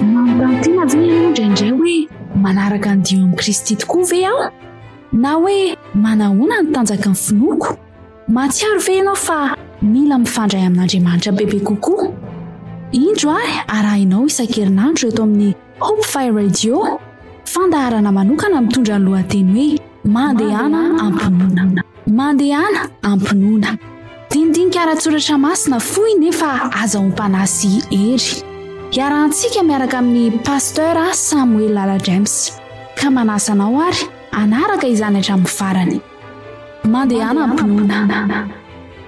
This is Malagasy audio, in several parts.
Mampantina ve ianao indraindray hoe manaraka ny dihy amin'i Kristy tokoa ve aho? Na hoe manahoana ny tanjaky ny finoako? Mahatsiaro ve ianao fa mila mifandray amin'Andriamanitra bebe kokoa? Indro ahy arahinao isan-kerinandro eto amin'ny Hope Fire Radio, fandaharana manokana mitondra ny lohateny hoe Mandehana am-pinoana. Mandehana am-pinoana. Dinidinika ara-tsoratra masina fohy nefa azahoam-panahy sy hery. Iarahantsika miaraka amin'ny Pasteur Samuel Lala James. Ka manasa anao ary hanaraka izany hatramin'ny farany. Mandehana am-pinoana.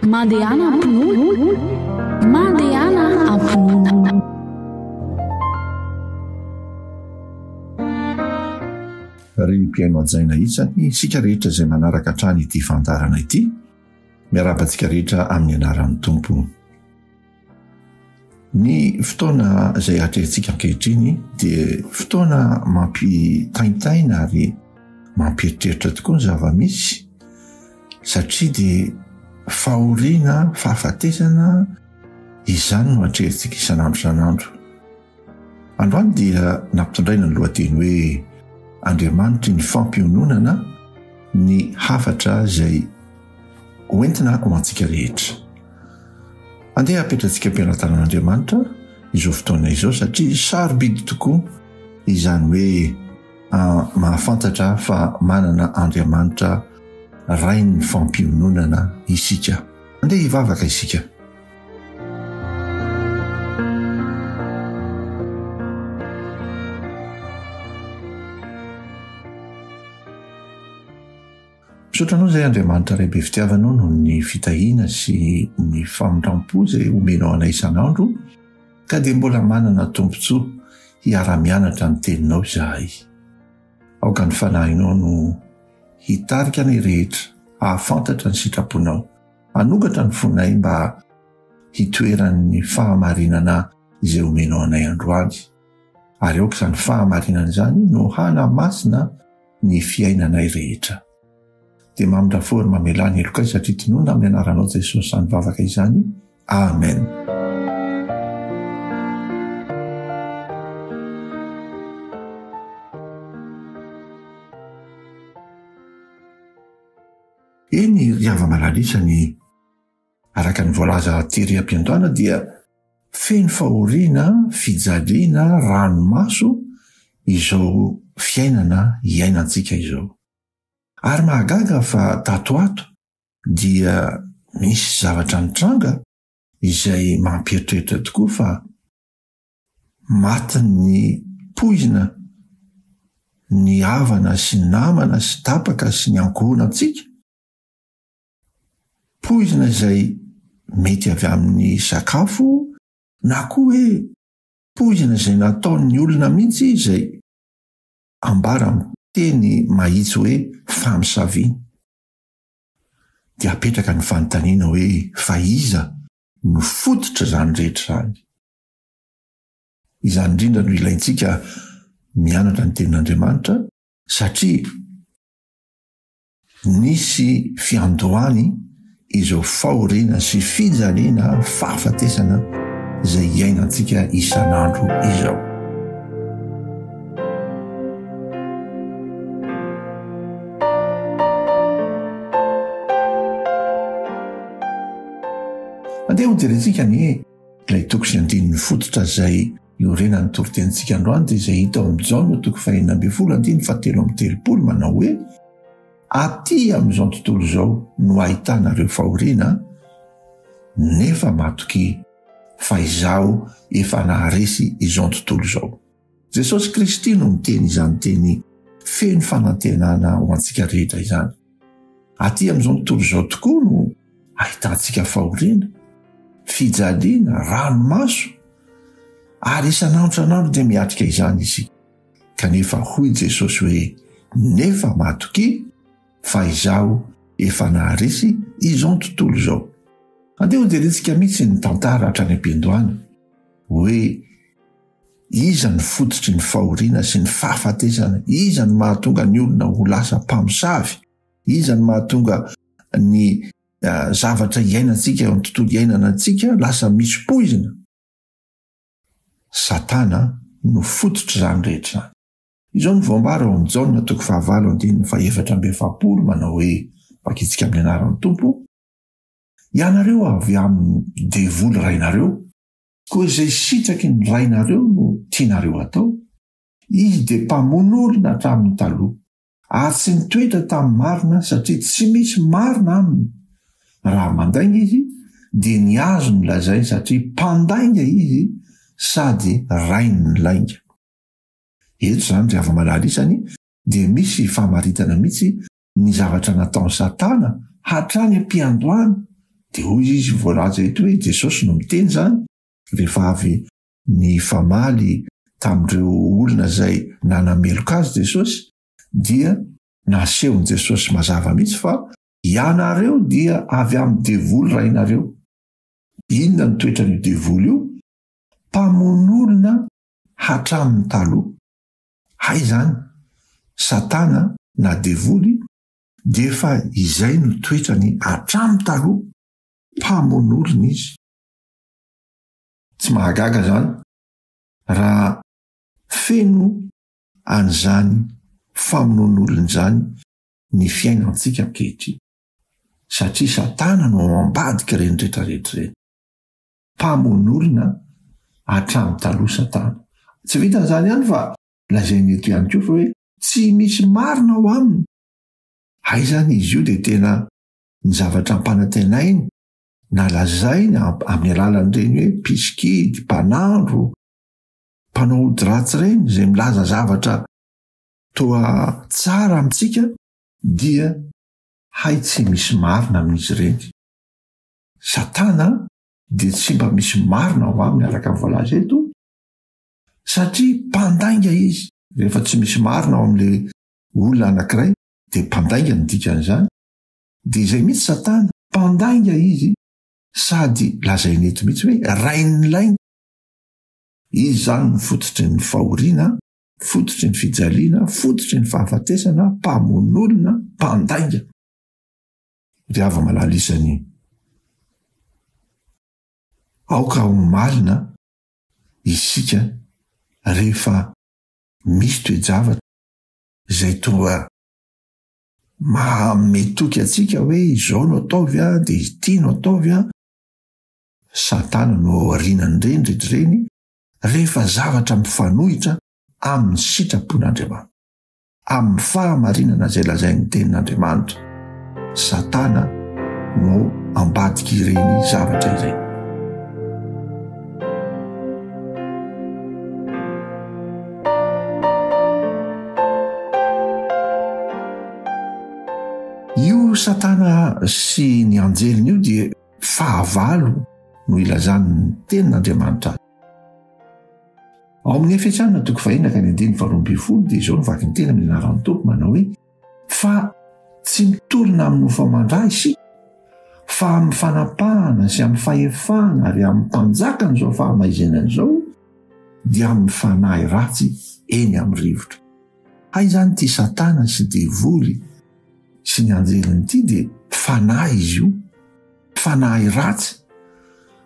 Mandehana am-pinoana. Mandehana am-pinoana. Ry mpihaino hajaina isany isika rehetra izay manaraka hatrany ity fandaharana ity. Miarahaba antsika rehetra amin'ny anaran'ny Tompo. Ny fotoana izay atrehintsika ankehitriny dia fotoana mampitaintaina ary mampieritreritra tokoa ny zava-misy satria dia fahoriana, fahafatesana izany no atrehintsika isan'andro isan'andro. Androany dia nampitondraina ny lohateny hoe Andriamanitry ny fampiononana ny hafatra izay hoentina ho antsika rehetra. Andeha apetrantsika am-pelatanan'Andriamanitra izao fotoana izao satria sarobidy tokoa izany hoe ah, mahafantatra fa manana Andriamanitra Rain'ny fampiononana isika. Andeha hivavaka isika. Misaotra anao izay Andriamanitra Ray be fitiavana noho ny fitahiana sy ny famindrampo izay omenao anay isan'andro ka dia mbola manana tombontsoa hiara-mianatra ny teninao izahay. Aoka ny fanahinao no hitarika anay rehetra hahafantatra ny sitraponao. Hanokatra ny fonay mba hitoeran'ny fahamarinana izay omenao anay androany, ary aoka izany fahamarinana izany no hanamasina ny fiainanay rehetra. Dia mamindrafo ary mamelà ny helokay satria tononina amin'ny anaranao Jesosy izany vavaka izany. Amen. Eny, ry hava-malala isany, araka ny voalaza tery am-piandohana dia feno fahoriana, fijaliana, ranomaso izao fiainana iainantsika izao. Ary mahagaga fa tato ato dia misy zavatra nitranga izay mampieritreritra tokoa fa Maty ny poizina ny havana sy namana sy tapaka sy ny ankohonantsika. Poizina izay mety avy amin'ny sakafo na koa hoe poizina izay nataon'ny olona mihitsy izay ambara amin'ny teny mahitsy hoe famisaviana. Dia apetraka ny fanontaniana hoe fa iza no fototr'izany rehetra izany? Izany indrindra no ilaintsika mianatra ny Tenin'Andriamanitra satria nisy fiandohany izao fahoriana sy fijaliana, fahafatesana izay iainantsika isan'andro izao. Andeha hojerentsika ny Ilay toko sy andininy fototra izay iorenan'ny toritenintsika androany dia izay hita ao amin'ny Jaona toko fahenina ambin'ny folo andininy fahatelo amby telopolo manao hoe aty amin'izao tontolo izao no ahitana ireo fahoriana nefa matokia fa izaho efa naharesy izao tontolo izao. Jesosy Kristy no niteny izany teny feno fanantenana ho antsika rehetra izany. Aty amin'izao tontolo izao tokoa no ahitantsika fahoriana, fijaliana, ranomaso, ary isan'andro isan'andro dia miatrika izany isika. Kanefa hoy Jesosy hoe, Nefa matokia, fa izaho efa naharesy izao tontolo izao. Andeha hojerentsika mihitsy ny tantara hatrany am-piandohana hoe Iza no fototry ny fahoriana sy ny fahafatesana? Iza no mahatonga ny olona ho lasa mpamosavy? Iza no mahatonga ny zavatra iainantsika eo amin'ny tontolo iainana antsika lasa misy poizina? Satana no fototr'izany rehetra izany. Izao no voambara ao amin'ny Jaona toko fahavalo andininy fahefatra amby efapolo, manao hoe, Vakintsika amin'ny anaran'ny Tompo, Ianareo avy amin'ny devoly rainareo, Koa izay sitraky ny rainareo no tianareo atao? Izy dia mpamono olona hatramin'ny taloha, ary tsy nitoetra tamin'ny marina satria tsy misy marina aminy. Raha mandainga izy, dia ny azo no lazainy satria mpandainga izy sady rain'ny lainga. Eto izany ry hava-malala isany dia misy famaritana mihitsy ny zavatra nataon'i Satana hatrany am-piandohana, dia hoy izy voalaza eto hoe Jesosy no miteny izany, rehefa avy nifamaly tamin'ireo olona izay nanameloka azy Jesosy, dia nasehon'i Jesosy mazava mihitsy fa ianareo dia avy amin'ny devoly rainareo. Inona no toetran'io devoly io? Mpamono olona hatramin'ny taloha. Hay izany, Satana na Devoly dia efa izay no toetrany hatramin'ny taloha, mpamono olona izy. Tsy mahagaga izany raha feno an'izany famonoan'olona izany ny fiainantsika ankehitriny, satria Satana no ao ambadik'ireny rehetra rehetra ireny. mpamono olona hatramin'ny taloha Satana. Tsy vitan'izany ihany fa lazainy eto ihany koa fa hoe tsy misy marina ao aminy. Hay izany izy io dia tena ny zavatra ampanantenainy na lazainy amin'ny alalan'ireny hoe mpisikidy, mpanandro, mpanao ody ratsy ireny izay milaza zavatra toa tsara amintsika dia hay tsy misy marina amin'izy ireny. Satana dia tsy mba misy marina ho aminy araka ny voalaza eto, satria mpandainga izy. Rehefa tsy misy marina ao amin'ilay olona anankiray, dia mpandainga no dikan'izany. Dia izay mihitsy Satana, mpandainga izy, sady lazainy eto mihitsy hoe rain'ny lainga. Izy izany no fototry ny fahoriana, fototry ny fijaliana, fototry ny fahafatesana, mpamono olona, mpandainga. Dia avy malala izany. Aoka ho malina isika rehefa misy toe-javatra izay toa maha-ame toky antsika hoe izao no ataovy an, dia ity no ataovy an. Satana no ao aorianan'ireny rehetra ireny rehefa zavatra mifanohitra amin'ny sitrapon'Andriamanitra. amin'ny fahamarinana izay lazain'ny Tenin'Andriamanitra. Satana no ambadik'ireny zavatra ireny. Satana sy ny anjeliny io dia fahavalo no ilazan'ny tenin'Andriamanitra azy. Ao amin'ny efetrana toko vahina ka ny andiny faharoa ambin'ny folo dia izao ny vakiny tena amin'ny anaran'ny toko manao hoe fa tsy mitorina amin'ny ho famandra isika fa amin'ny fanapahana sy amin'ny fahefana ary amin'ny mpanjakany izao fahamaizenana izao dia amin'ny fanahy ratsy eny amin'ny rivotra. Hay zany ity satana sy devoly sy ny anjeliny ity dia fanahy izy io, fanahy ratsy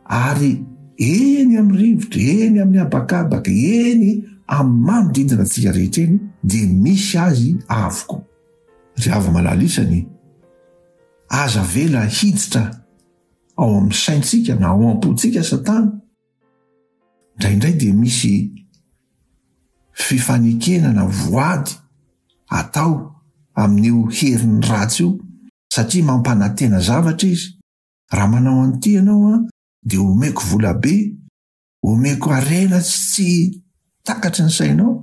ary eny amin'ny rivotra, eny amin'ny habakabaka, eny amin'ny manodidina antsika rehetra eny dia misy azy avokoa. Ry havy malala isany, aza avela hiditra ao amin'ny saintsika na ao am-pontsika satana, Indraindray dia misy fifanekena na voady atao amin'io heriny ratsy io satria mampanantena zavatra izy, raha manao an'ity ianao an dia omeko volabe, omeko harena tsy takatry ny sainao.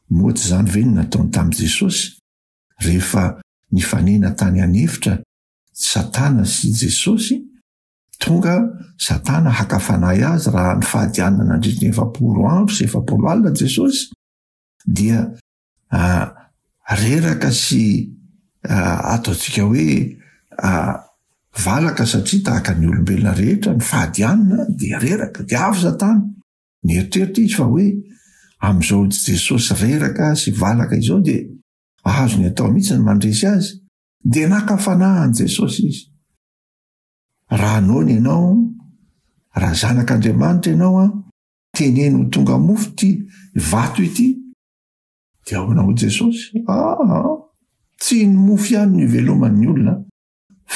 Moa tsy izany ve no nataony tamin'i Jesosy rehefa nifanena tany an'efitra Satana sy Jesosy? Tonga Satana haka fanahy azy raha nifadianina nandritra ny efapolo andro sy efapolo alina Jesosy, dia ah, reraka sy ah, ataontsika hoe ah, valaka satria tahaka ny olombelona rehetra nifadianina dia reraka. Dia avy Satana. Nieritreritra izy fa hoe amin'izao Jesosy reraka sy valaka izao dia azony atao mihitsy ny mandresy azy. Dia naka fanahy an'i Jesosy izy. Raha noana ianao, raha zanak'Andriamanitra ianao an, teneno ho tonga mofo ity vato ity, dia ahoana hoy Jesosy? Aa, tsy ny mofo ihany no iveloman'ny olona,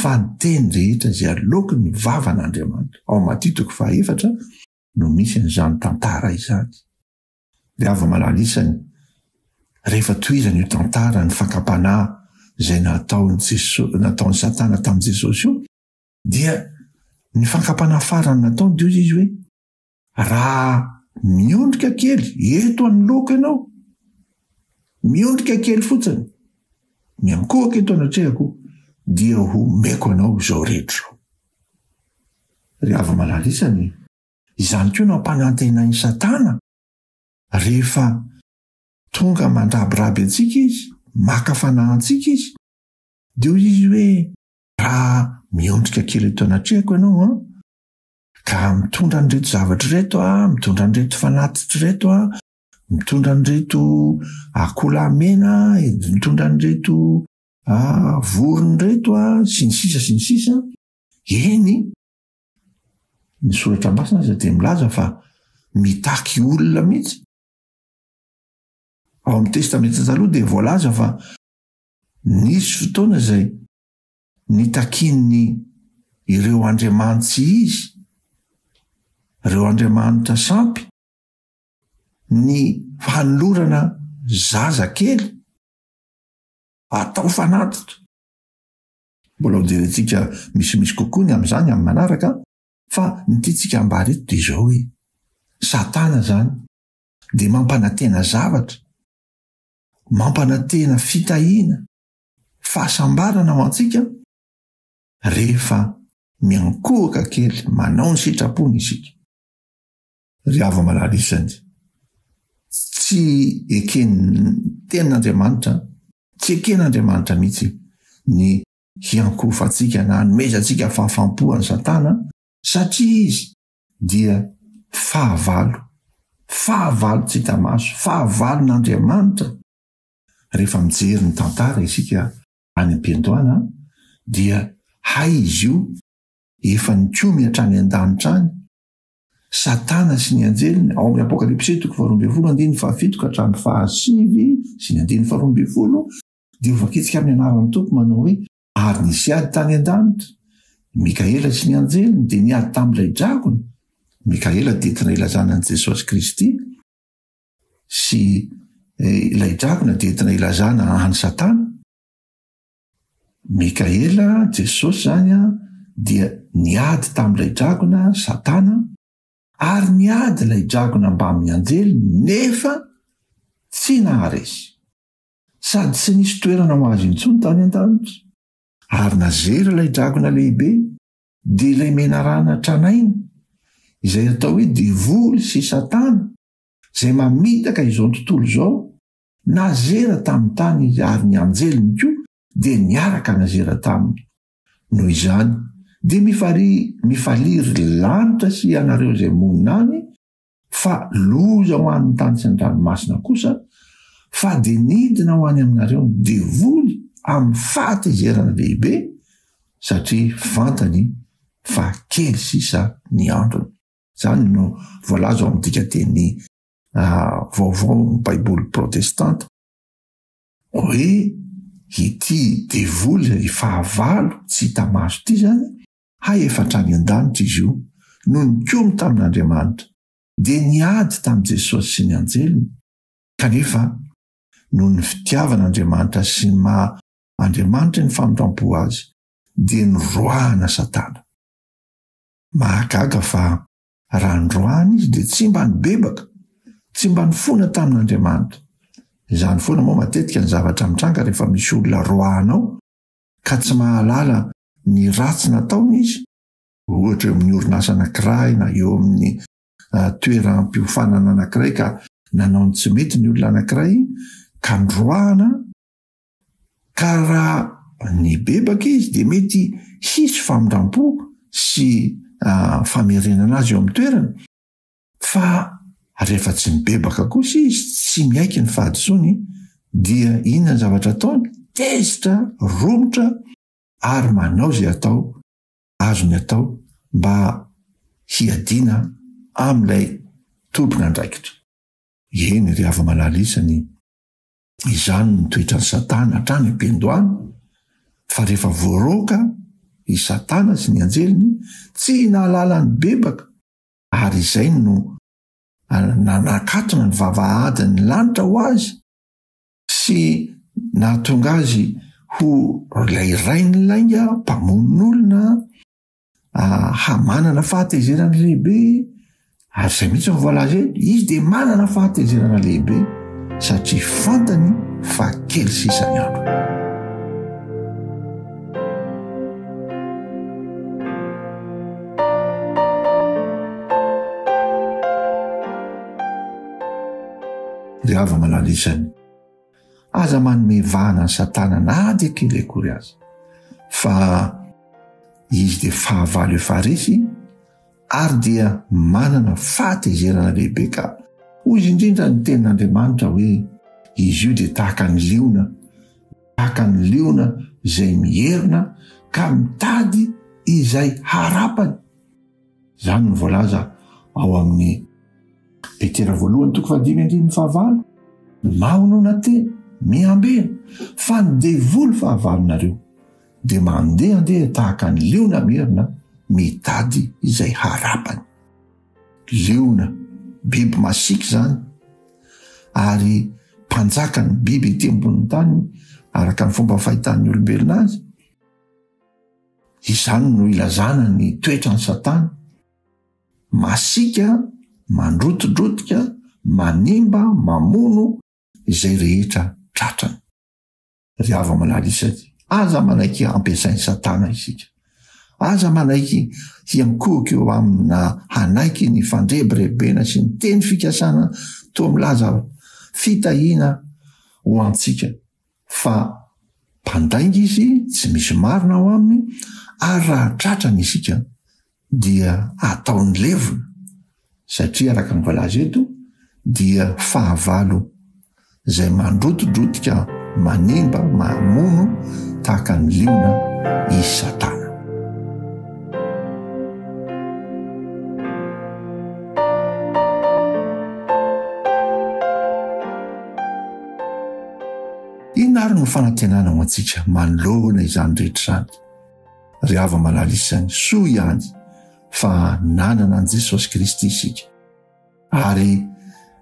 fa ny teny rehetra izay aloaky ny vavan'Andriamanitra. Ao Matia toko faha efatra no misy an'izany tantara izany. Ny hava-malala isany, rehefa tohizana io tantara ny fakam-panahy izay nataon'i Jeso- nataon'i Satana tamin'i Jesosy io, dia ny fakam-panahy farany nataony dia hoy izy hoe, Raha miondrika kely eto anoloako ianao, miondrika kely fotsiny, miankohoka eto anatrehako, dia homeko anao izao rehetra izao. Ry hava-malala isany, Izany koa no ampanantenain'i Satana rehefa tonga mandrabiraby antsika izy, maka fanahy antsika izy. Dia hoy izy hoe, Raha miondrika kely eto anatrehako ianao an, ka mitondra an'ireto zavatra ireto aho, mitondra an'ireto fanatitra ireto aho, mitondra an'ireto akoholahy mena, mitondra an'ireto vorona ireto aho, sy ny sisa sy ny sisa, eny, Ny soratra masina aza dia milaza fa mitaky olona mihitsy. Ao amin'ny testamenta taloha dia voalaza fa nisy fotoana izay nitakian'ny ireo andriamanitsy izy, ireo andriamanitra sampy, ny fanolorana zaza kely atao fanatitra. Mbola ho jerentsika misimisy kokoa ny amin'izany amin'ny manaraka, fa ny tiantsika hambara eto dia izao hoe, Satana izany dia mampanantena zavatra, mampanantena fitahiana, fahasambarana ho antsika rehefa miankohoka kely manao ny sitrapony isika. Ry hava-malala isany, tsy eken'ny Tenin'Andriamanitra Tsy eken'Andriamanitra mihitsy ny hiankohofantsika na hanomezantsika fahafaham-po an'i Satana, satria izy dia fahavalo, fahavalo tsy hita maso, fahavalon'Andriamanitra. Rehefa mijery ny tantara isika any am-piandohana, dia hay izy io efa nikomy hatrany an-danitra any, Satana sy ny anjeliny, ao amin'ny Apokalypsy toko faharoa ambin'ny folo andininy fahafito ka hatramin'ny fahasivy sy ny andininy faharoa ambin'ny folo, dia ho voaketsika amin'ny anaran'ny Tompo manao hoe, Ary nisy ady tany an-danitra. I Mikaela sy ny anjeliny dia niady tamin'ilay dragona. Mikaela dia entina ilazana an'i Jesosy Kristy, sy ilay dragona dia entina ilazana an'i Satana. Mikaela, Jesosy izany dia niady tamin'ilay dragona, Satana, ary niady ilay dragona mbamin'ny anjeliny nefa tsy naharesy. Sady tsy nisy toerana ho azy intsony tany an-danitra. Ary nazera ilay dragona lehibe, dia ilay menarana tranainy, izay atao hoe devoly sy Satana, izay mamitaka izao tontolo izao, Nazera tamin'ny tany izy ary ny anjeliny koa dia niaraka nazera taminy. Noho izany, dia mifarihy, mifalia ry lanitra sy ianareo izay monina any, fa loza ho an'ny tany sy ny ranomasina kosa, fa dia nidina ho any aminareo ny devoly amin'ny fahatezerana lehibe, satria fantany fa kely sisa ny androny. Izany no voalaza ao amin'ny dikanteny. Ah, vaovao amin'ny Baiboly protestanta, hoe ity devoly ry fahavalo tsy hita maso ity izany, hay efa hatrany an-danitra izy io, no nikomy tamin'Andriamanitra, dia niady tamin'i Jesosy sy ny anjeliny, kanefa noho ny fitiavan'Andriamanitra sy ny maha Andriamanitra ny famindram-po azy, dia noroahana Satana. Mahagaga fa Raha androany izy dia tsy mba nibebaka, tsy mba nifona tamin'Andriamanitra. Izany foana moa matetika ny zavatra mitranga rehefa misy olona roahanao ka tsy mahalala ny ratsy nataony izy, ohatra eo amin'ny orinasa anankiray na eo amin'ny toeram-piofanana anankiray ka nanao ny tsy mety ny olona anankiray ka noroahana, ka raha nibebaka izy dia mety hisy famindram-po sy famerenana azy eo amin'ny toerany, fa rehefa tsy mibebaka kosa izy, tsy miaiky ny fahadisoany, dia inona ny zavatra ataony? Tezitra, romotra ary manao izay atao azony atao mba hiadiana amin'ilay tompon'andraikitra. Eny ry hava-malala isany e! Izany no toetran'i Satana hatrany am-piandohana, fa rehefa voaroaka i Satana sy ny anjeliny, tsy nahalala ny bebaka, ary izay no nanakatona ny vavahadin'ny lanitra ho azy sy nahatonga azy ho ilay rain'ny lainga mpamono olona, ah, hamanana fahatezerana lehibe ary izay mihitsy ny voalaza eto izy dia manana fahatezerana lehibe satria fantany fa kely sisany andro ry hava malala izany Aza manome vahana ny satana na dia kely akory aza fa izy dia fahavalo efa resy ary dia manana fahatezerana lehibe ka hoy izy indrindra ny tenin'Andriamanitra hoe izy io dia tahaka ny liona tahaka ny liona izay mierina ka mitady izay harapany Izany no voalaza ao amin'ny Petera voalohany toko fahadimy andininy fahavalo. Mahonona tena, mihambeha, fa ny devoly fahavalonareo dia mandehandeha tahaka ny liona merina mitady izay harapany. Liona, biby masiaka izany, ary mpanjakan'ny biby ety ambonin'ny tany araka ny fomba fahitan'ny olombelona azy. Izany no ilazana ny toetran'i Satana, masiaka, mandrotidrotika, manimba, mamono izay rehetra tratrany. Ry hava-malala isaky, aza manaiky hampiasain'i Satana isika. Aza manaiky hiankohoka eo aminy na hanaiky ny fandrebirebena sy ny teny fikasana toa milaza fitahiana ho antsika. Fa mpandainga izy, tsy misy marina ao aminy, ary raha tratra ny isika dia ataony levona, satria araka ny voalaza eto dia fahavalo izay mandrotidrotika, manimba, mamono tahaka ny liona i Satana. Inona ary no fanantenana ho antsika manoloana izany rehetra izany? Ry hava-malala isany, soa ihany fa nanana an'i Jesosy Kristy isika, ary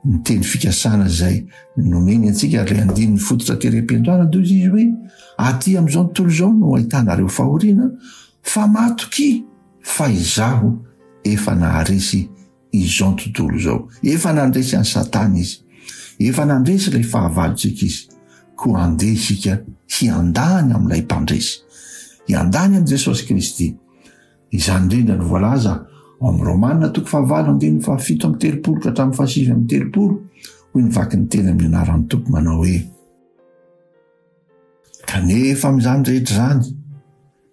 ny teny fikasana izay nomeny antsika ary ilay andininy fototra tery am-piandohana dia izy hoe, Aty amin'izao tontolo izao no ahitanareo fahoriana, fa matokia, fa izaho efa naharesy izao tontolo izao. Efa nandresy an'i Satana izy. Efa nandresy ilay fahavalontsika izy. Koa handeha isika hiandany amin'ilay mpandresy. Hiandany amin'i Jesosy Kristy. Izany indrindra no voalaza ao amin'ny Romana toko fahavalo andininy fahafito amby telopolo ka hatramin'ny fahasivy amby telopolo. Hoy ny vakin'ny teny amin'ny anaran'ny Tompo manao hoe Kanefa amin'izany rehetra izany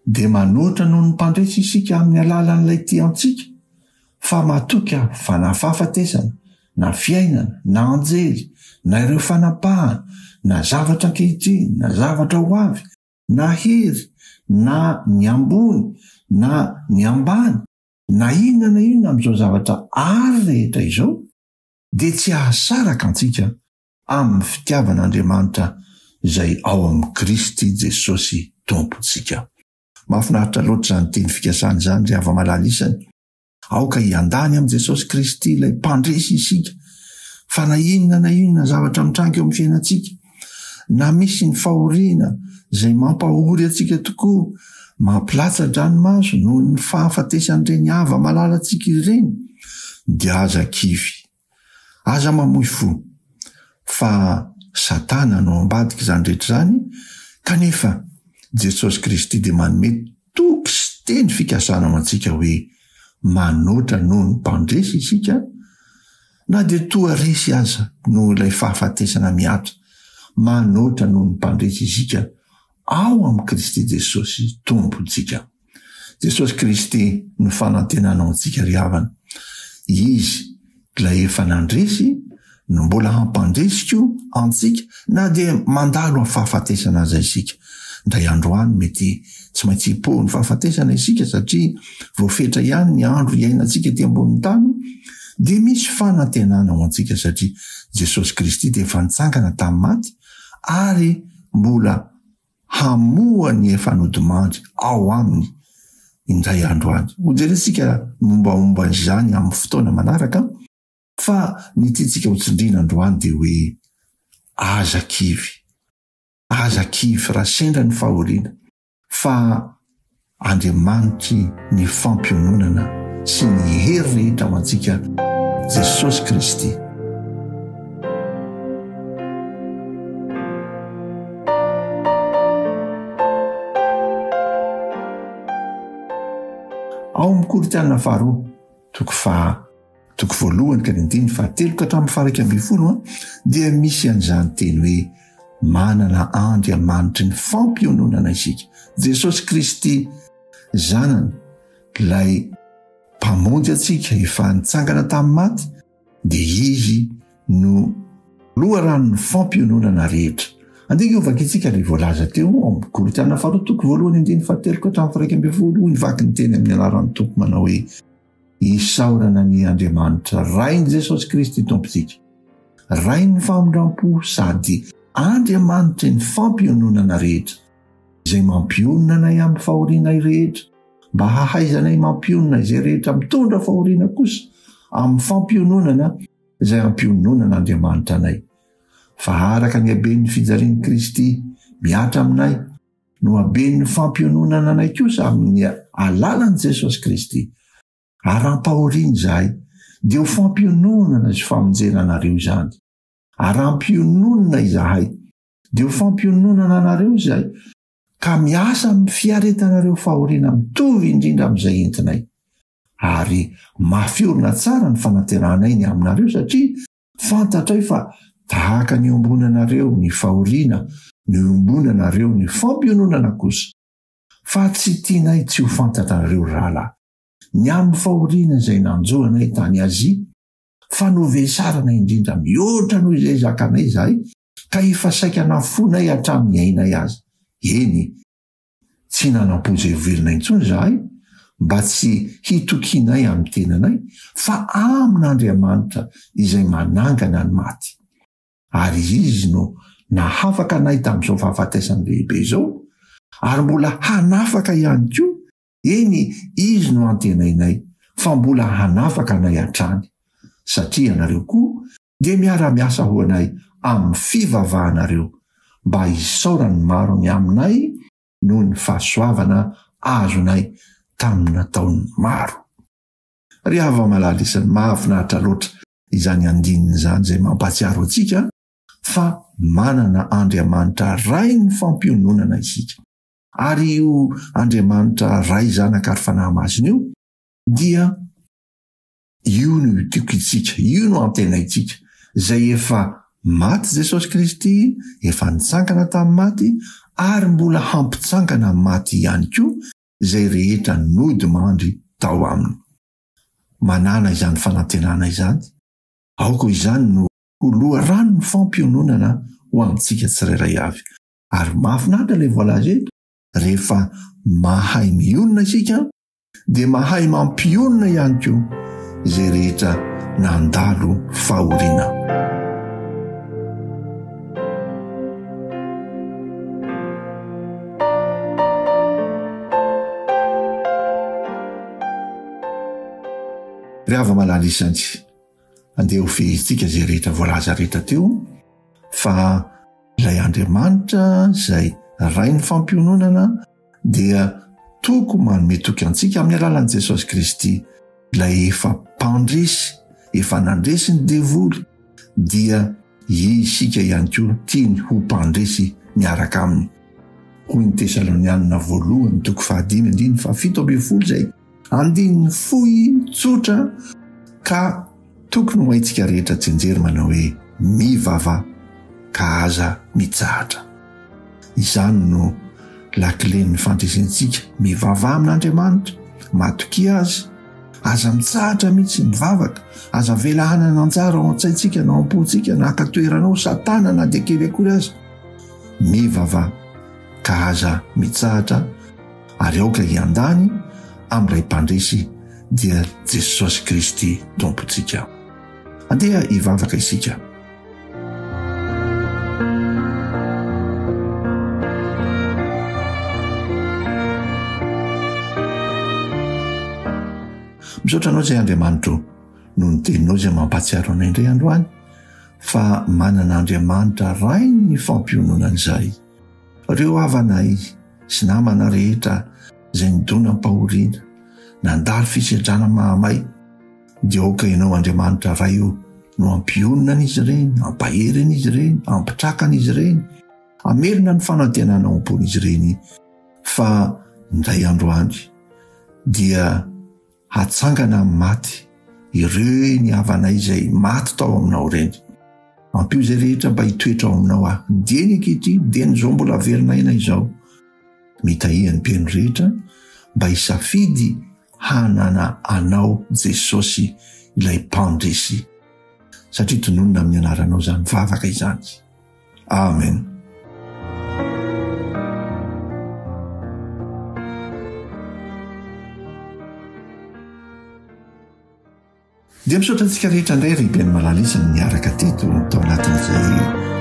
dia manoatra noho ny mpandresy isika amin'ny alalan'ilay tia antsika fa matoky aho fa na fahafatesana, na fiainana, na anjely, na ireo fanapahana, na zavatra ankehitriny, na zavatra ho avy, na hery, na ny ambony, na ny ambany, na inona na inona amin'izao zavatra àry rehetra izao, dia tsy hahasaraka antsika amin'ny fitiavan'Andriamanitra izay ao amin'i Kristy Jesosy Tompontsika. Mahafinaritra loatra izany teny fikasana izany ry hava-malala isany. Aoka hiandà any amin'i Jesosy Kristy ilay Mpandresy isika fa na inona na inona zavatra mitranga eo amin'ny fiainantsika, na misy ny fahoriana izay mampahory antsika tokoa, mampilatsa-dranomaso noho ny fahafatesan'ireny hava-malalantsika ireny, dia aza kivy. Aza mamoy fo fa satana no ambadik'izany rehetra izany kanefa Jesosy Kristy dia manome toky sy teny fikasana ho antsika hoe manoatra noho ny mpandresy isika na dia toa resy aza noho ilay fahafatesana miato manoatra noho ny mpandresy isika ao amin'i Kristy Jesosy Tompontsika. Jesosy Kristy no fanantenana ho antsika ry havana. Izy Ilay efa nandresy no mbola hampandresy koa antsika na dia mandalo amin'ny fahafatesana aza isika. Indray andro any mety tsy maintsy hipoha ny fahafatesana isika satria voafetra ihany ny andro iainantsika ety ambonin'ny tany dia misy fanantenana ho antsika satria Jesosy Kristy dia efa nitsangana tamin'ny maty ary mbola hamoha ny efa nodimandry ao aminy indray andro any. Hojerentsika ny mombamomba izany amin'ny fotoana manaraka, fa ny tiantsika hotsindriana androany dia hoe, Aza kivy. Aza kivy raha sendra ny fahoriana, fa Andriamanitry ny fampiononana sy ny hery rehetra ho antsika, Jesosy Kristy. Ao amin'ny Korintiana Faharoa. Toko faha, toko voalohany ka ny andininy fahatelo ka hatramin'ny faha iraika ambin'ny folo dia misy an'izany teny hoe manana Andriamanitry ny fampiononana isika, Jesosy Kristy Zanany, ilay Mpamonjy antsika efa nitsangana tamin'ny maty, Dia izy no loharanon'ny fampiononana rehetra. Andinika ho vakintsika ilay voalaza teo ao amin'ny Korintiana faharoa toko voalohany andininy fahateloko hatramin'ny firaika ambin'ny folo hoy ny vakiny teny amin'ny anaran'ny Tompo manao hoe Isaorana ny Andriamanitra Rain'i Jesosy Kristy Tompontsika, Rain'ny famindram-po sady Andriamanitry ny fampiononana rehetra. izay mampionona anay amin'ny fahorianay rehetra, mba hahaizanay mampionona izay rehetra mitondra fahoriana kosa amin'ny fampiononana izay ampiononan'Andriamanitra anay. Fa araka ny haben'ny fijalian'i Kristy mihatra aminay no haben'ny fampiononana anay kosa amin'ny alalan'i Jesosy Kristy. Arampahoriana izahay, dia ho fampiononana sy famonjena anareo izany. Arampiononina izahay, Dia ho fampiononana anareo izay, ka miasa amin'ny fiaretanareo fahoriana mitovy indrindra amin'izay entinay. Ary mafy orina tsara ny fanaterahanay ny aminareo satria fantatray fa tahaka ny iombonanareo ny fahoriana no iombonanareo ny fampiononana kosa. Fa tsy tianay tsy ho fantatrareo, ry rahalahy, ny amin'ny fahoriana izay nanjo anay tany Azia, fa novesarana indrindra mihoatra noho izay zakanay izahay Ka efa saika nafoinay hatramin'ny ainay aza. Eny, tsy nanam-poizay ho velona intsony izahay, mba tsy hitokianay amin'ny tenanay, fa amin'Andriamanitra izay manangana ny maty. Ary Izy no nahafaka anay tamin'izao fahafatesana lehibe izao, ary mbola hanafaka ihany koa, eny, Izy no antenainay fa mbola hanafaka anay hatrany. Satria ianareo koa Dia miara-miasa ho anay amin'ny fivavahanareo mba hisaoran'ny maro ny aminay noho ny fahasoavana azonay tamin'ny nataon'ny maro. Ry hava-malala isany, mahafinaritra loatra izany andininy izany izay mampahatsiaro antsika fa manana Andriamanitra Ray ny fampiononana isika. Ary io Andriamanitra Ray, Zanaka ary Fanahy Masina io dia. Io no itokintsika, io no antenaintsika. Izay efa maty Jesosy Kristy, efa nitsangana tamin'ny maty, ary mbola hampitsangana amin'ny maty ihany koa izay rehetra nody mandry tao aminy. Manàna izany fanantenana izany, aoka izany no ho loharanon'ny fampiononana ho antsika tsirairay avy. Ary mahafinaritra ilay voalaza eto, Rehefa mahay mionona isika dia mahay mampionona ihany koa izay rehetra nandalo fahoriana. Ry hava-malala isantsy. Andeha ho fehezitsika izay rehetra voalaza rehetra teo fa ilay Andriamanitra izay Rain'ny fampiononana dia toko manome toky antsika amin'ny alalan'i Jesosy Kristy, ilay efa mpandresy, efa nandresy ny devoly, dia isika ihany koa tiany ho mpandresy miaraka aminy. Hoy ny Tesalonianina voalohany toko fahadimy andininy fahafito ambin'ny folo izay. Andininy fohy tsotra ka tokony ho haintsika rehetra jenjery manao hoe mivava ka aza mitsahatra. Izany no lakilen'ny fandresentsika, mivavaha amin'Andriamanitra, matokia Azy, aza mitsahatra mihitsy mivavaka, aza avela hanana anjara ao an-tsaintsika na ao am-pontsika na haka toerana ao Satana na dia kely akory aza. Mivava ka aza mitsahatra. ary aoka hiandany amin'ilay Mpandresy dia Jesosy Kristy Tompontsika. Andeha hivavaka isika. Misaotra anao izay Andriamanitro noho ny teninao izay mampahatsiaro anay indray androany fa manana Andriamanitra rain'ny fampiononana izay. Reo havanay sy namana rehetra izay nidona am-pahoriana, nandalo fisedrana mahamay, dia aoka Ianao Andriamanitra Ray o, no hampionona an'izy ireny, hampahery an'izy ireny, hampitraka an'izy ireny, hamerina ny fanantenana ao am-pon'izy ireny fa indray andro any dia hatsangana amin'ny maty ireny havanay izay maty tao aminao ireny. Ampio izay rehetra mba hitoetra ao aminao aho. Dia ny ankehitriny, dia ny izao mbola haverina aina izao. Mitahia ny mpino rehetra mba hisafidy hanana anao Jesosy ilay mpandresy. Satria tononina amin'ny anaranao izany vavaka izany. Amen. dia misaotra antsika rehetra indray rehiben'ny malalisany miaraka teto tao anatin'izay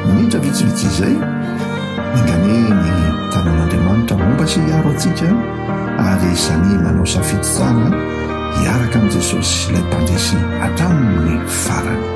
minitra vitsivitsy izay mangane ny tanan'andriamanitra momba sy hiaro antsika ary sani manao safiditsana hiaraka amin'i jesosy ilay mpandresy hatramin'ny farany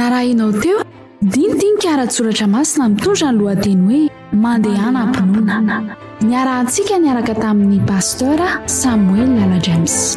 Narahinao teo dinidinika ara-tsoratra masina mitondra ny lohateny hoe Mandehana am-pinoana. Niarahantsika niaraka tamin'ny Pasteur Samuel Lala James.